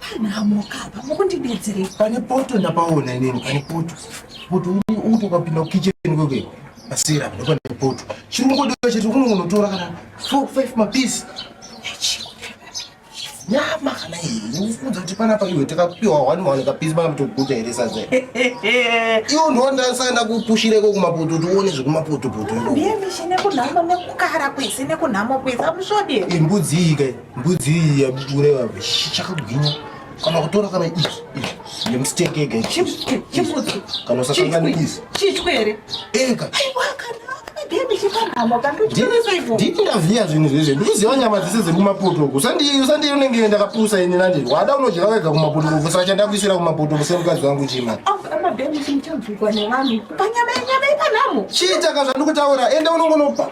Panhamo kapa mukundibetserei. Pane poto ndapaona inini pane poto. Poto uri uto kapinda kitchen kwekwe. Asira ndopane poto. Chirungu ndicho chete unonotora kana 4 5 mapiece. Nyama kana iyi ufunza kuti pana pa iwe takapiwa 1 1 kapiece bana mtokuta here sadze. Iyo ndonda sana kupushire ko kumapoto tuone zvekumapoto poto. Ndiye mishine kunhama nekukara kwese nekunhama kwese amusvode. Imbudzi ike. mbudzi iyi yaureva chakagwinya kana kutora kana ichi ichi nemistake ega chibudzi kana usasangana izi chitwe here ega nditi ndaziva zvinhu zvezve ndikuziva nyama dzese dzekumapotoku usandiyo unenge ndakapusa ini nandiri wada unodya wega kumapotoku kusaka chandakuisira kumapotoku semukadzi wangu chima chiitaka zvandikutaura enda unongonopa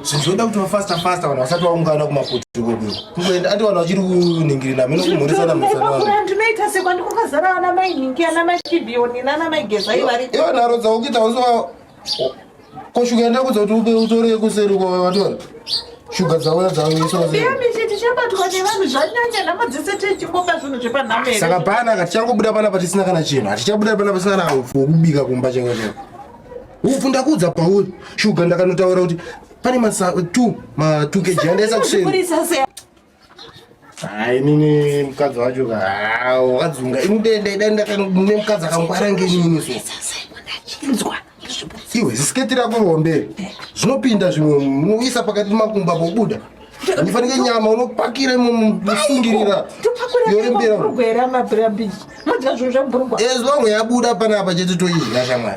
zvizoda kuti vafasta fasta vanhu vasati vaungana kumakuti kwedu kungoenda ati vanhu vachiri kuningirina mino kumhoresana mhosanaanoita sekwandikokazara ana mainhingi ana machibiyoni nana maigezai vari ivo nharo dzakuita uso Ko shuga yenda kudza kuti upe utore yekuseri kwa watora. Shuga dzauya dzauya so. Ndiye mishe tichabatwa nevanhu zvanyanya nhamo dzese techimbopa zvinhu zvepanhamere. Saka pana ka tichangobuda pana patisina kana chinhu. Hatichabuda pana pasina kana upfu kubika kumba cheko cheko. Upfu ndakudza pauri. Shuga ndakanotaura kuti pane masa 2 ma 2 kg andaisa kuseri. Hai nini mukadzi wacho ka wakadzunga ini dai dai ndakane mukadzi akangwara ngenini so iwe zisiketi rako rombe zvinopinda zvimwe munoisa pakati pemakumba pobuda unofanike nyama unopakira musungirira yorembera as long yabuda panapa chete toidya shamwari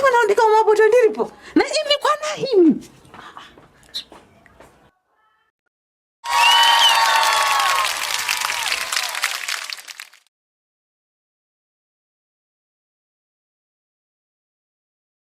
Mwana ndikaoma poto ndiripo. Na imi kwana imi.